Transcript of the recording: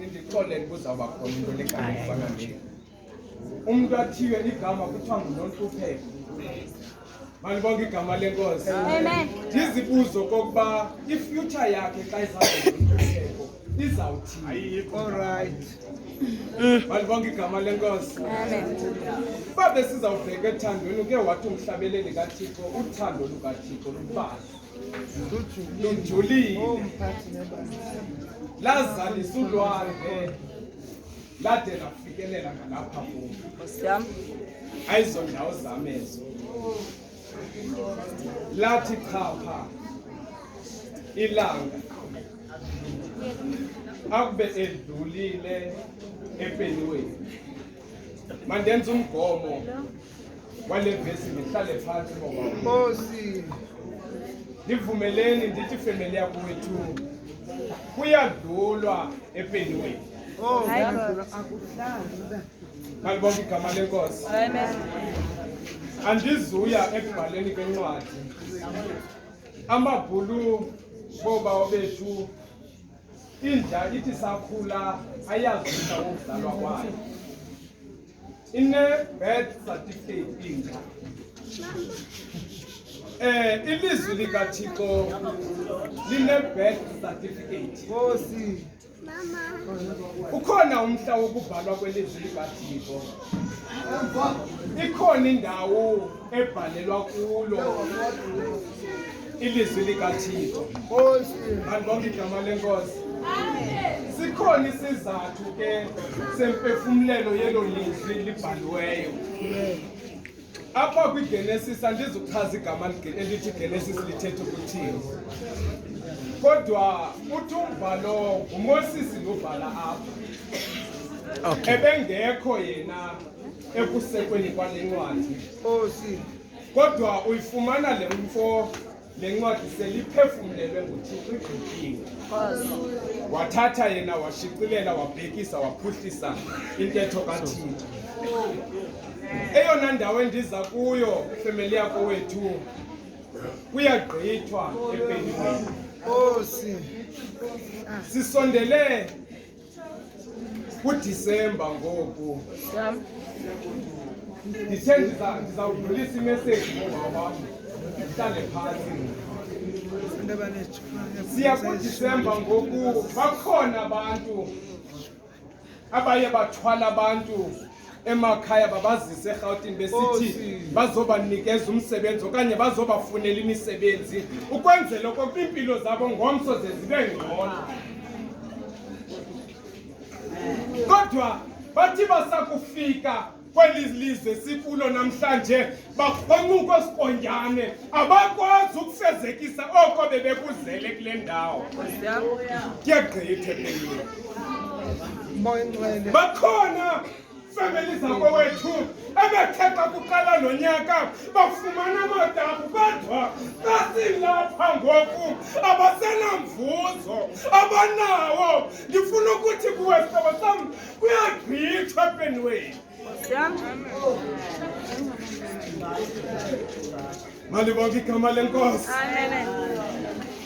Ndixolele kuzawuba khona into legama efana nje. Umntu athiywe ligama kuthiwa nguNontlupheko. Malibonke igama lenkosi. Amen. Ndizibuzo kokuba ifuture yakhe xa izawuba nguNontlupheko izawuthini. Ayikho. All right. Malibonke igama lenkosi. Amen. Uba besizawubheka ethandweni uke wathi umhlabeleli kaThixo uthando lukaThixo lubazi. lujulile oh, lazalisa ulwandle lade lafikelela ngalapha kum ayizo ndawo zam ezo lathi chapha ilanga akube edlulile empeniweni mandenza umgomo wale vesi ndihlale phantsi ngobankosi ndivumeleni ndithi femeli yakwethu kuyadlulwa epeniweni oh, balibonga igama lenkosi andizuya ekubhaleni kwencwadi amabhulu boobawo bethu inja ithi sakhula ayazisa ukudlalwa kwayo In a birth certificate in eh ilizwi likaThixo line birth certificate Nkosi mama ukhona umhla wokubhalwa kwelizwi likaThixo ikhona indawo ebhalelwa kulo ilizwi likathixo bantu bonke igama lenkosi sikhona isizathu ke semphefumlelo yelo lizwi libhaliweyo apha kwigenesis andizuchaza igama elithi genesis lithetha ukuthini kodwa uthi umbhalo ngumosisi lobhala apha oh. ebengekho yena ekusekweni kwale ncwadi nkosi kodwa uyifumana le mfo le ncwadi seliphefumlelwe nguthixo igqityile wathatha yena washicilela wabhekisa waphuhlisa intetho kathixo eyona ndawo endiza kuyo femeli yako wethu kuyagqithwa epenini sisondele kudisemba ngoku ndithe ndizawudlulisa imeseji ngoba wam ndihlale phantsi siya kudisemba ngoku bakhona abantu abaye bathwala abantu emakhaya babazise erhawutini besithi bazobanikeza umsebenzi okanye bazobafunela imisebenzi ukwenzela okokuba iimpilo zabo ngomso ze zibe ngcono kodwa bathi basakufika kweli lizwe sikulo namhlanje bakhonuka sikonjane abakwazi ukufezekisa oko bebekuzele kule ndawo kuyagqithe kuyo bakhona fameli zakowethu ebethetha kuqala lo nyaka bafumana amadamu kodwa basilapha ngoku abasenamvuzo abanawo ndifuna ukuthi kuwesabo sam kuyagqithwa epenweni Mali bonke igama lenkosi. Amen.